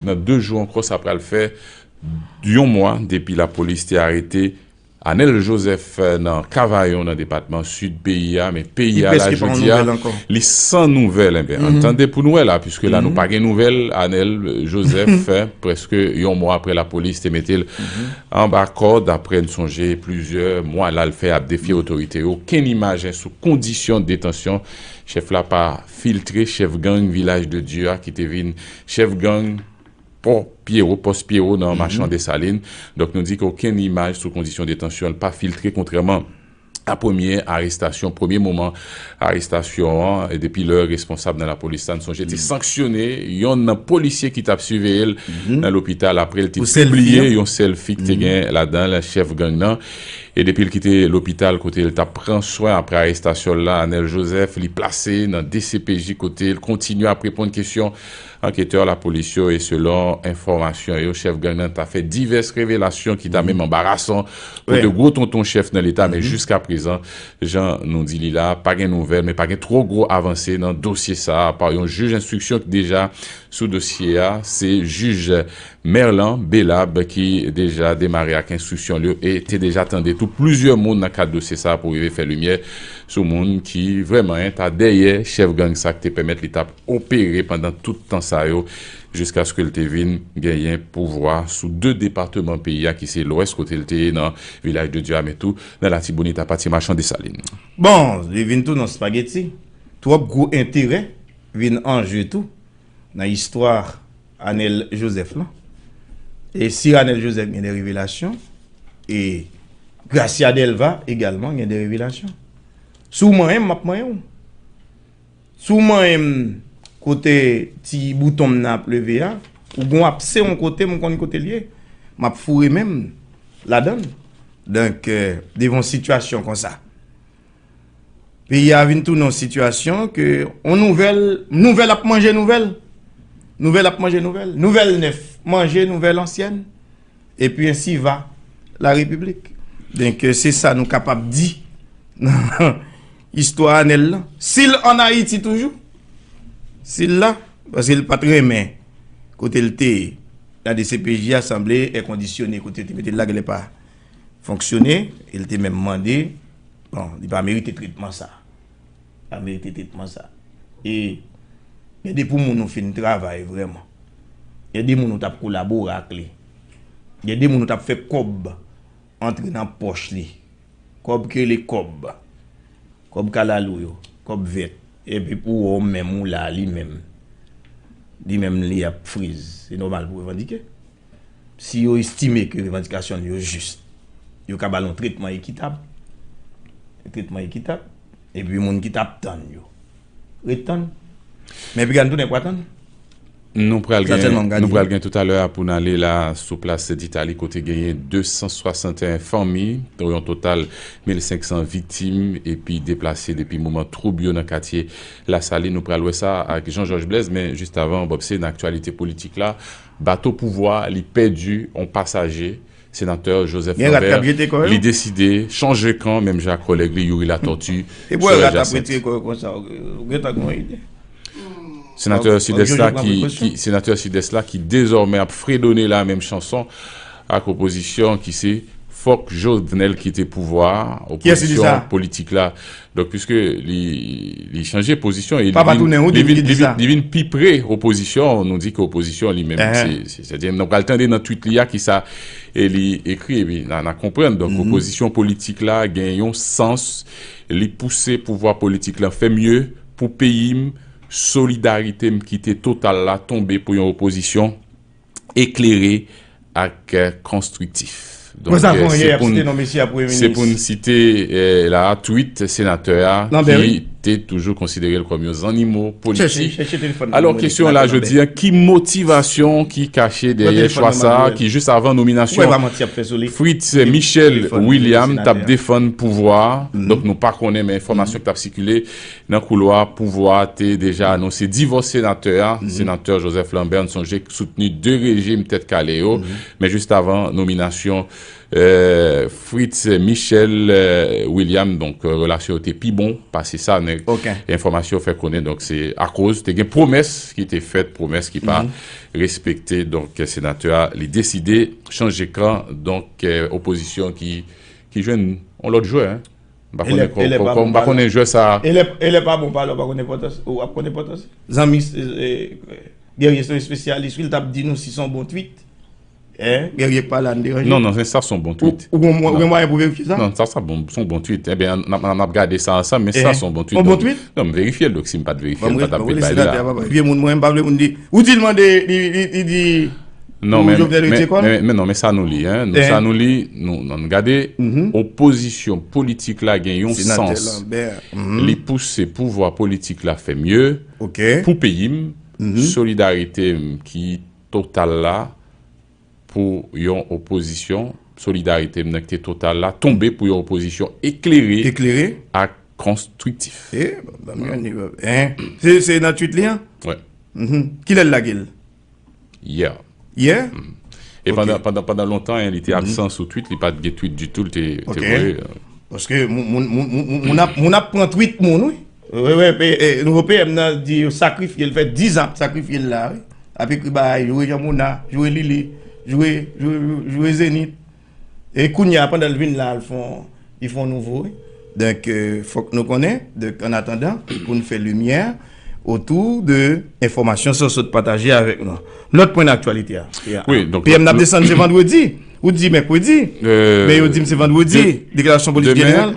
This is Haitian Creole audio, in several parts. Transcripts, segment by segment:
Nan 2 jou ankò sa pral fè yon mwa depi lapolis te arete Anel Joseph nan Kavayon nan depatman Sid peyi a men peyi a la jodi a li san nouvèl enben ann tande pou n wè la puiske la nou pa gen nouvèl Anel Joseph prèske yon mwa aprè lapolis te mete l anba kòd aprè n sonje plizyè mwa la l fè ap defye otorite yo okenn imajen sou kondisyon detansyon chèf la pa filtre chèf gang Vilaj de Dye a ki te vin Chèf gang Pò Pyewo, Pòs Pyewo, nan Machan Desalin, donk nou di ke okenn imaj sou kondisyon detansyon l pa filtre kontrèman a premye arestasyon, premye moman arestasyon an, depi lè responsab nan lapolis la, n sonje, te sanksyone yonn nan polisye ki t ap siveye l nan lopital apre l te pibliye yon sèlfi ki te gen ladan l chèf gang nan. E depi l kite lopital kote l t ap pran swen apre arestasyon l lan, Anèl Jozèf, li plase nan dcpj kote l kontinye ap reponn kesyon anketè lapolis yo e selon enfòmasyon yo, chèf gang nan ta fè divès revelasyon ki ta menm anbarasan pou 2 gwo tonton chèf nan leta men jiska prezan, jan nou di li la, pa gen nouvèl men pa gen twò gwo avanse nan dosye sa a apa yon jij enstriksyon ki deja sou dosye a, se jij. Merlan Belab ki deja demare ak enstriksyon l yo e te deja tande tou plizyè moun nan kad dosye sa pou rive fè limyè sou moun ki vrèman en ta dèyè chèf gang sa k te pèmèt li t ap opere pandan tout tan sa yo jiskaske l te vin genyen pouvwa sou 2 depateman peyi a ki se Lwès kote l te ye nan Vilaj de Dya men tou nan Latibonit apa Ti Machan Desalin. Bon, li vin tou nan spageti. Twòp gwo enterè vin an je tou. Nan istwa Anel Joseph lan e si Anel Joseph gen de revelasyon e Gracia Delva egalman gen de revelasyon. Si w manyen m, m ap manyen w. Si w manyen m kote ti bouton m nan ap leve a, ou gen yon apse yon kote m konn kote l ye, m ap foure men m ladan l. Donk, devan yon sitiyasyon konsa. Peyi a vin tounen yon sitiyasyon ke yon nouvèl, nouvèl ap manje nouvèl, nouvèl ap manje nouvèl, nouvèl nèf manje nouvèl ansyèn, epi ensi va la repiblik. Donk se sa nou kapab di nan istwa Anèl lan. Si l an Ayiti toujou, si l la, paske l pa t renmen kote l te ye. La dcpj a sanble èkondisyone kote yo te mete l la genlè pa. fonksyone e li te menm mande bon li pa merite tretman sa li pa merite tretman sa e gen de pou moun ou fin travay vreman gen de moun ou tap kolabore ak li gen de moun ou tap fè kob antre nan poch li kob ke li kob kob kalalou yo kob vet epi pou ou menm ou la li menm li menm li ap friz se nomal pou revandike si yo estime ke revandikasyon nou yo jis, yo ka ba nou tretman ekitab, tretman ekitab, epi moun ki tap tann yo, ret tann. Men epi gade nou tounen pa tann. Nou pral gen tout alè a pou nou ale la sou plas Sentitali kote genyen 261 fanmi, pou yon total 1500 viktim epi deplase depi moman twoub yo nan katye Lasalin. Nou pral wè sa ak Jean Georges Blaise, men jist avan, Bòpse, nan aktyalite politik la, Bato pouvwa li pèdi on pasaje, Senatè Joseph Lambert li deside chanje kan menm jan ak kòlèg li Youri Latortue, Sorel Jacinthe. Senatè Sidès la ki Senatè Sidès la ki dezòmè ap fredone la menm chanson ak opozisyon ki se Fòk Jovenel kite pouvwa a, opozisyon politik la Donk piske li chanje pozisyon e li vin pi pre opozisyon, nou di ke opozisyon li menm se sa. Nou pral tande nan tweet li a ki sa li ekri e pi nan konprann. Donk opozisyon politik la gen yon sans li pouse pouvwa politik la fè mye pou peyi m, solidarite m kite total la tonbe pou yon opozisyon eklere ak konstriktif. Donk se pou n site la a tweet senatè a ki te toujou konsidere l kòm yon zannimo politik. Alò kesyon la jodi a, ki motivasyon ki kache dèyè chwa sa a ki jis avan nominasyon Fritz Michel William t ap defann pouvwa a? Donk nou pa konnen men enfòmasyon ki t ap sikile Nan koulwa pouvwa a te deja anonse divòs senatè a, senatè Joseph Lambert n sonje k soutni 2 rejim tèt kale yo, men jis avan nominasyon Fritz Michel William donk relasyon yo te pi bon pase sa nèg enfòmasyon fè konnen donk se akoz te gen pwomès ki te fèt pwomès ki pa respekte donk senatè a li deside chanje kan donk opozisyon ki jwenn yon lòt jwè. Elè pa bon pale ou pa konn enpòtans ou ap konn enpòtans li. Zanmi Guerrier se yon espesyalis wi li tap di nou si son bon tweet. Guerrier k pale a nou deranje. Non non se sa son bon tweet. Ou gen mwayen pou verifye sa? Non sa sa bon son bon tweet ebyen nap gade sa ansanm men sa son bon tweet. Son bon tweet? Non m verifye l dok si m pat verifye l m patap vin bay li la. Vye moun mwen m pa vle moun di ou di l mande li di. Non men, men non men sa nou li, nou sa nou li, nou nan gade, opozisyon politik la gen yon sans, li pouse pouvwa politik la fè mye, pou peyi m, solidarite m ki total la, pou yon opozisyon, solidarite m nan ki te total la, tonbe pou yon opozisyon eklere, ak konstriktif. Se nan tweet li an? Kilè l lage l? Yeah. Yeah? E Ok. pandan, pandan, pandan lontan li te absan sou tweet, li pat gen tweet ditou, li te, te Ok. voye. euh, Paske moun, moun, moun, moun, moun, moun ap, moun ap pran tweet moun wi. Wè, wè, pe, e, nouvo PM nan di yo sakrifye l, fè 10 ans ap sakrifye l la wi. Ap ekri bagay, joure Jean Mona, joure Lili, joure, joure, joure Zenith. E kounya pandan l vin la l fon li fon nouvo wi donk fòk nou konnen donk an atandan pou n fè limyè otou de enfòmasyon sa w sot pataje avèk nou lòt pwen nan aktyalite a PM nan ap desann se vandredi ou t di mèkredi men yo di m se vandredi deklarasyon politik jeneral.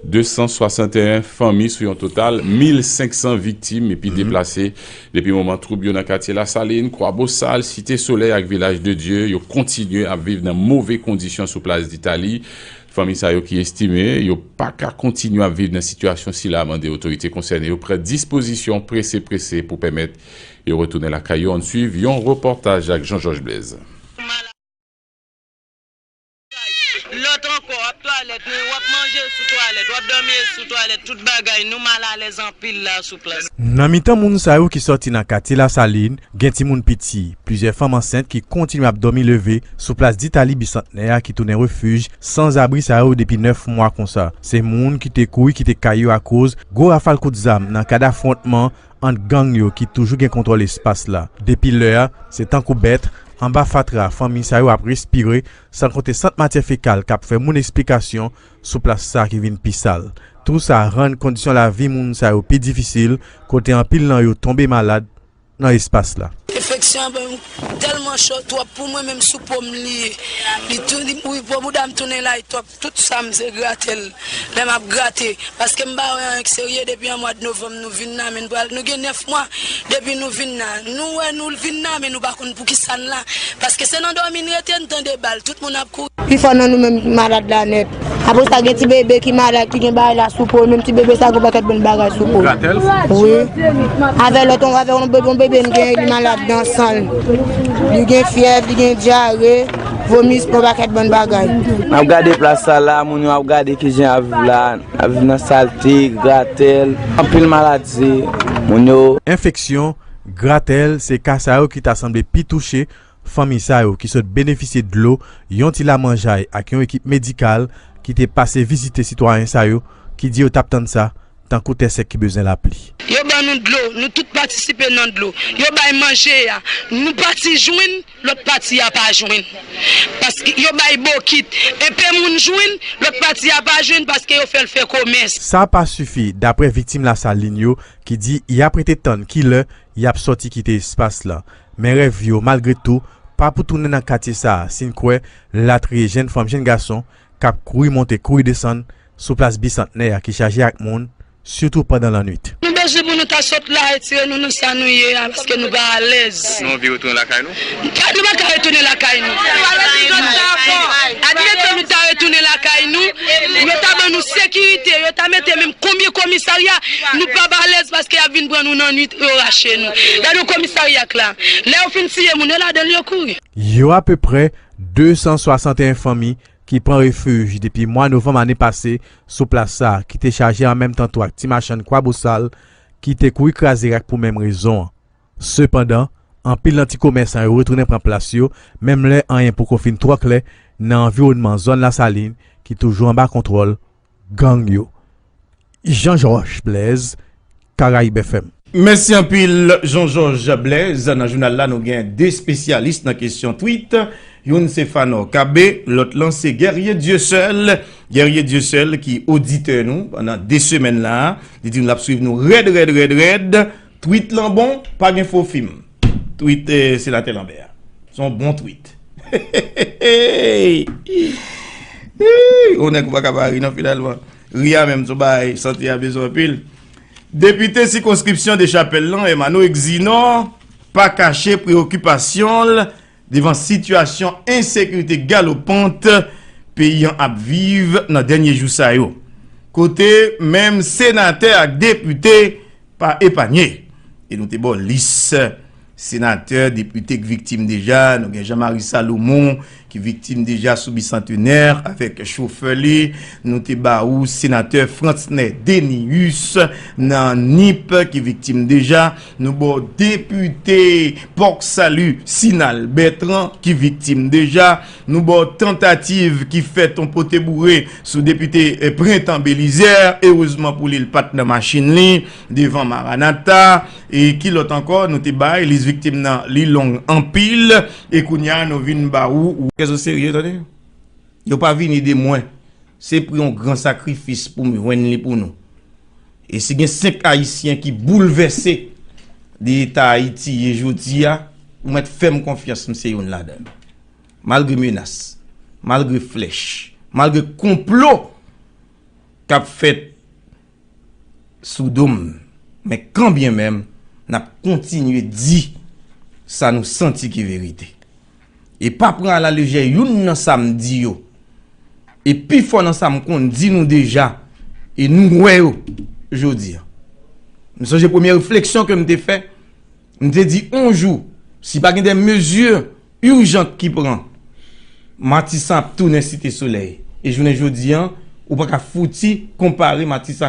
261 fanmi sou yon total 1500 viktim epi deplase depi moman twoub yo nan katye Lasalin, Kwabosal, Site Solèy ak Vilaj de Dye yo kontinye ap viv nan move kondisyon sou plas Ditali. Fanmi sa yo ki estime yo pa ka kontinye ap viv nan sitiyasyon sila mande otorite konsène yo pran dispozisyon prese prese pou pèmèt yo retounen lakay yo, ann suiv yon repòtaj ak Jean Georges Blaise. Lòt ankò, ap twalèt men w ap manje sou twalèt, w ap dòmi e sou twalèt, tout bagay, nou mal alèz anpil la sou plas. Nan mitan moun sa yo ki sòti nan katye Lasalin, gen timoun piti, plizyè fanm ansent ki kontinye ap dòmi leve sou plas Ditali Bisantnè a ki tounen refij sanzabri sa yo depi 9 mwa konsa. Se moun ki te kouri kite kay yo akoz gwo rafal kout zam nan kad afwontman ant gang yo ki toujou gen kontwòl espas la depi lè a, se tankou bèt anba fatra fanmi sa yo ap respire, san konte sant matyè fekal k ap fè moun esplikasyon sou plas sa ki vin pi sal. Tou sa rann kondisyon lavi moun sa yo pi difisil, kote anpil nan yo tonbe malad nan espas la. Enfeksyon an banm tèlman cho twòp pou mwen menm sou po m li ye li tou li wi po bouda m tounen lay twòp Tout sa m se grate l lè map grate paske m pa wè anyen k serye depi an mwad novanm nou vin nan men n pral nou gen 9 mwa depi nou vin nan nou wè nou vin nan men nou pa konn poukisa n la paske se nan dòmi n rete n tande bal tout moun ap kouri. Pifò nan nou menm ki malad la nèt. Apre sa gen ti bebe ki malad ki gen bagay la sou po l menm ti bebe sa gen yon pakèt bon bagay sou po l wi avè lòt yon bebe n gen li malad nan san l li gen fyèv li gen dyare. Vomis, yon pakèt bon bagay. Nap gade plas sa la, moun yo ap gade ki jan yap viv la, yap viv nan salte, gratèl, anpil maladi, moun yo. Enfeksyon, gratèl, se ka sa yo ki ta sanble pi touche fanmi sa yo ki sot benefisye dlo, yon ti lamanjay ak yon ekip medikal ki te pase vizite sitwayen sa yo ki di yo tap tann sa tankou tè sèk ki bezwen lapli. Yo ban nou dlo, nou tout patisipe nan dlo. Yo bay manje a, yon pati jwenn, lòt pati a pa jwenn. Paske yo bay bokit, enpe moun jwenn, lòt pati a pa jwenn paske yo fè l fè komès. Sa pa sifi, daprè viktim Lasalin yo ki di y ap rete tann ki lè y ap sòti kite espas lan. Men rèv yo, malgre tou, pa pou tounen nan katye sa a, si n kwè latriye jenn fanm jenn gason k ap kouri monte kouri desann, sou plas Bisantnè a ki chaje ak moun, sitou pandan lannwit. Nou bezwen pou nou ta sot la, retire nou nan sa nou ye a, paske nou pa alèz. Nou anvi retounen lakay nou? Nou pa ka retounen lakay nou. Nou pa vle di zòt sa ankò. Admeton nou ta retounen lakay nou, yo ta ban nou sekirite, yo ta mete menm konbyen komisarya, nou p ap alèz paske y ap vin pran nou nannuit, yo rache nou. Gade yon komisarya k la. Lè yo fin tiye moun yo ladan l, yo kouri. Yo apeprè 261 fanmi ki pran refij depi mwa novanm ane pase sou plas sa ki te chaje an menm tan tou ak ti machann kwa bosal ki te kouri kraze rak pou menm rezon an. Sepandan, anpil nan ti komèsan yo retounen pran plas yo menm lè anyen poko fin twò klè nan anviwònman zòn Lasalin ki toujou anba kontwòl gang yo Jean Georges Blaise Caraïbes FM. Mèsi anpil Jean Georges Blaise. Nan jounal la nou gen 2 spesyalis nan kesyon tweet, youn se Phanor Cabe, lòt lan se Guerrier Dieuseul. Guerrier Dieuseul ki oditè nou pandan 2 semèn la, li di nou lap swiv nou rèd rèd rèd rèd. Tweet lan bon, pa gen fo fim. Tweet Senatè Lanbè a. Se yon bon tweet. Heheheeyy! Yon nèg ou pa ka pa ri non finalman. Ri a menm se yon bagay sante a bezwen anpil. Depite sikonskripsyon Dechapèl lan, Emano Exinor, pa kache preokipasyon l. Devan sitiyasyon ensekirite galopant peyi an ap viv nan dènye jou sa yo, kote menm senatè ak depite pa epanye, e nou te ba w lis senatè, depite k viktim deja, nou gen Jean Marie Salomon ki viktim deja sou Bicentenaire avèk chofè li, nou te ba ou senatè Frantzner Dénéus nan Nip ki viktim deja. Nou ba w depite Port Salut Sinal Bertrand ki viktim deja, nou ba w tantativ ki fèt yon pote boure sou depite Printemps Belizaire, erezman pou li l pat nan machin li devan Maranatha e ki lòt ankò nou te bay, lis viktim nan li long anpil e kounya nou vin ba w. Kè zo serye tande. Yo pa vini de mwen, se pri yon gran sakrifis pou m jwenn li pou nou. E si gen 5 Ayisyen ki boulvèse de eta Ayiti ye jodi a, ou mèt fè m konfyans m se youn ladan yo. Malgre menas, malgre flèch, malgre konplo k ap fèt, sou do m men kanbyen menm n ap kontinye di sa nou santi ki verite e pa pran alalejè youn nan sa m di yo e pifò nan sa m konn di nou deja e nou wè yo jodi a m sonje premye refleksyon ke m te fè m te di on jou si pa gen de mezi urjant ki pran matisan ap tounen site solèy e jounen jodi a ou pa ka fouti konpare matisan